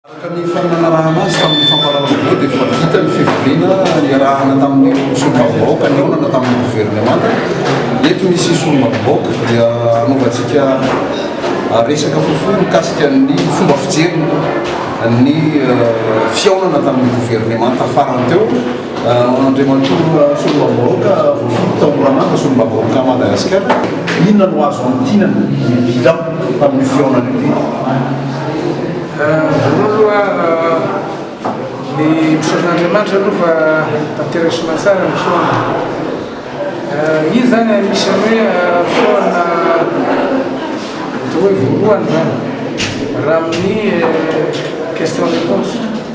Araka ny fanarahana azy tamin'ny fampahalalam-baovao dia efa vita ny fivoriana niarahana tamin'ireo solombavambahoaka nihaonana tamin'ny governemanta. Eto misy solombavambahoaka dia hanaovantsika resaka fohifohy mikasika ny fomba fijeriny ny fihaonana tamin'ny governemanta farany teo. Andriamatoa Ratsoroambahoaka Voafidy tao Moramanga, Solombavambahoakan'i Madagasikara, inona no azo antinan'ny bilan tamin'io fihaonana io teo? Voalohany aloha, ny misaotra an'Andriamanitra aloha fa tanteraka soamantsara ny fihaonana. Iny izany anisan'ny hoe fihaonana atao hoe voalohany izany, raha amin'ny question-réponse.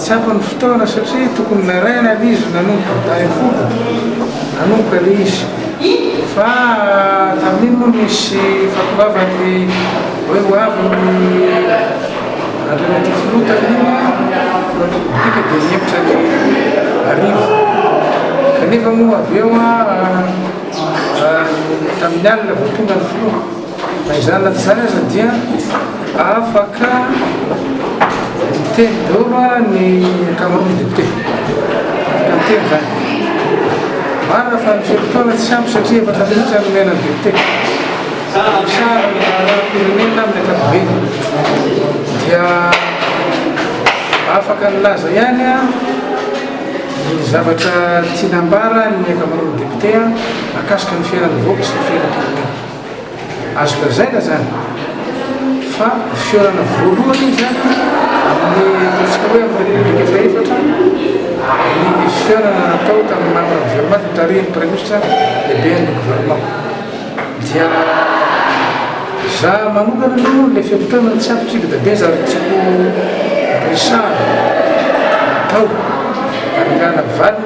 Tsy ampy ny fotoana satria tokony naraina aloha izy nanomboka tamin'ny folo nanomboka ilay izy fa tamin'iny moa nisy fahatongavan'ny hoe ho avy ny Andriamatoa Filoha tamin'iny Filohan'ny Repoblika dia nihevitra ny hariva kanefa moa avy eo tamin'ny alina vao tonga ny Filoha. Na izany na tsy izany aza dia afaka miteny daholo ny ankamaroan'ny députés. Afaka miteny izany. Marina fa ny fe-potoana tsy ampy satria efatra minitra no omena ny député. Misahana ny raharaham-pirenena amin'ny ankapobeny. Dia afaka nilaza ihany ny zavatra tiany hambara ny ankamaroan'ny députés mahakasika ny fiainan'ny vahoaka sy ny fiainam-pirenena. Azo lazaina izany fa fihaonana voalohany izany amin'ny ataontsika hoe amin'ny Repoblika fahefatra ny fihaonana natao tamin'ny membre gouvernement notarihin'ny Praiminisitra lehiben'ny gouvernement. Dia za manokana aloha ilay fihaonana tsy ampy kibo dabe za tsy tiako resahana atao ary angana valiny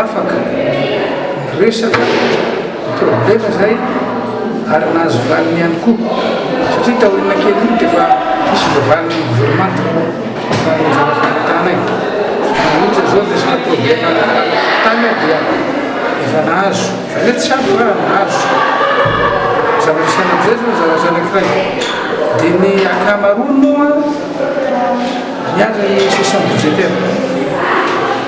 afaka miresaka ny problema izay ary nahazo valiny ihany koa satria taoriana kely iny dia efa nisy voavalin'ny governemanta fa ny zava-pamitana e ohatra izao resaka problema tany dia efa nahazo fa le tsy ampy raha nahazo zavatra saina amin'izay zao zavatra anankiray dia ny ankamaroany moa miandry ny session budgétaire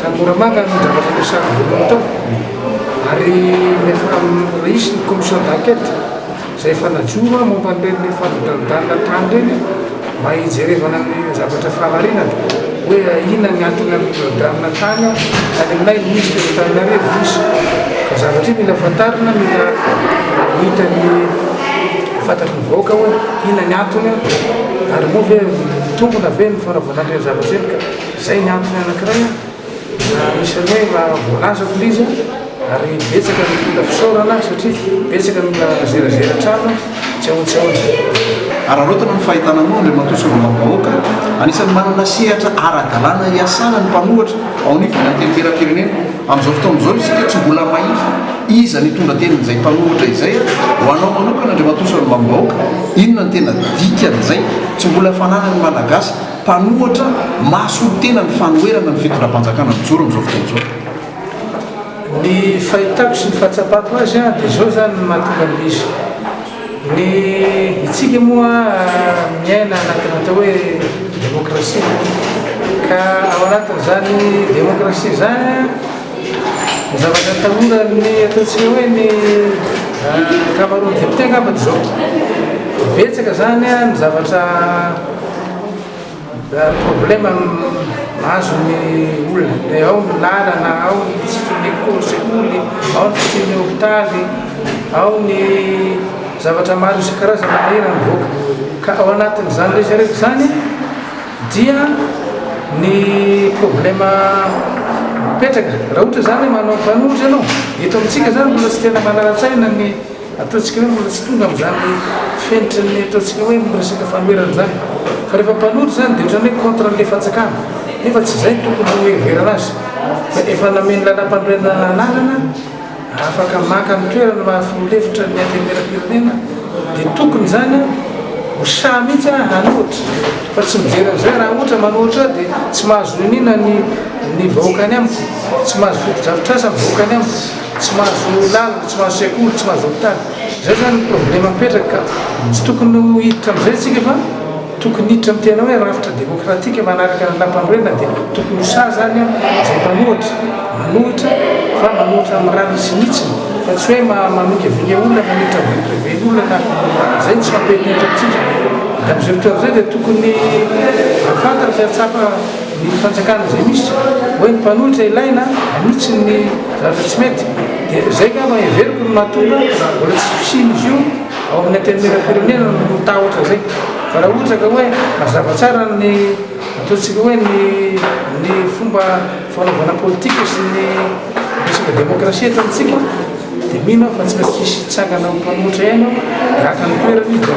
Tanora manga no zavatra ampiasana voalohany tao ary nisy ny commission d'enquête izay efa najoro momba an'ireny fandodandodanana tany ireny mba hijerevana ny zavatra fahamarinana hoe inona ny antony handodandodanana tany ao any aminay Ministre eto Antananarivo izy. Ka zavatra io mila fantarina, mila hita ny fantatry ny vahoaka hoe inona ny antony ary moa ve mitombina ve ny fanaovana an'ireny zavatra ireny ka. Izay ny antony anankiray an! Na anisan'ny hoe mba voalazako ilay izy an! Ary betsaka ny olona fisaorana satria betsaka ny olona nazerazera hatrany an! Tsy ahoana tsy ahoana. Hararaotina ny fahitana anao Andriamatoa Solombavambahoaka, anisan'ny manana sehatra ara-dalàna hiasana ny mpanohatra ao anivon'ny Antenimierampirenena. Amin'izao fotoana izao isika tsy mbola mahita iza no hitondra tenin'izay mpanohatra izay. Ho anao manokana Andriamatoa Solombavambahoaka, inona no tena dikan'izay tsy mbola fananan'ny Malagasy? Mpanohatra mahasoa tena ny fanoherana ny fitondram-panjakana mijoro amin'izao fotoana izao. Ny fahitako sy ny fahatsapako azy dia izao izany no mahatonga ny misy. Ny isika moa miaina anatina atao hoe demokrasia ka ao anatin'izany demokrasia izany, Ny zavatra atahoran'ny ataontsika hoe ny ankamaroan'ny députés angamba dia izao, betsaka izany ny zavatra problème mahazo ny olona, dia ao ny lalana, ao ny tsy fisian'ny école, sekoly, ao ny tsy fisian'ny hôpitaly, ao ny zavatra maro isan-karazany manery ny vahoaka, ka ao anatin'izany rehetra rehetra izany, Dia ny problema mipetraka, raha ohatra izany hoe manao mpanohitra ianao, eto amintsika izany mbola tsy tena manara-tsaina ny ataontsika hoe mbola tsy tonga amin'izany fenitra ny ataontsika hoe ny resaka fanoherana izany. Fa rehefa mpanohitra izany dia ohatran'ny hoe contre an'ilay fanjakana, nefa tsy izay tokony hoheverana azy fa efa nameno lalàmpanorenana anarana, Raha afaka maka ny toerany raha filoha lefitra ny antenimieram-pirenena dia tokony izany ho sahy mihitsy aho hanohitra fa tsy mijery an'izay raha ohatra manohitra aho dia tsy mahazo niniana ny ny vahoaka any amiko, tsy mahazo fotodrafitrasa ny vahoaka any amiko, tsy mahazo lalana, tsy mahazo sekoly, tsy mahazo hopitaly. Izay izany ny problema mipetraka ka tsy tokony ho hiditra amin'izay isika fa. Tokony hiditra ny tena hoe rafitra demokratika manaraka ny lampanorenana dia tokony ho sahy izany izay mpanohitra, manohitra fa manohitra amin'ny rariny sy ny hitsiny fa tsy hoe mamingavinga olona, manohitra vie privée-ny olona na izay no tsy mampiantohitra amintsika. Madame Zurcher izay dia tokony hahafantatra sy hahatsapa ny fanjakana izay misy hoe ny mpanohitra ilaina hanitsy ny zavatra tsy mety dia izay angamba heveriko no mahatonga mbola tsy fisian'izy io. Ao amin'ny Antenimierampirenena no ho tahotra izay. Fa raha ohatra ka hoe mazava tsara ny ataontsika hoe ny ny fomba fanaovana politika sy ny resaka demokrasia eto amintsika dia mino aho fa tsy maintsy hisy hitsangana ho mpanohitra ihany ao dia haka ny toerany izy dia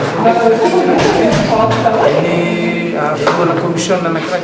ny filohan'ny kaomisiona anankiray.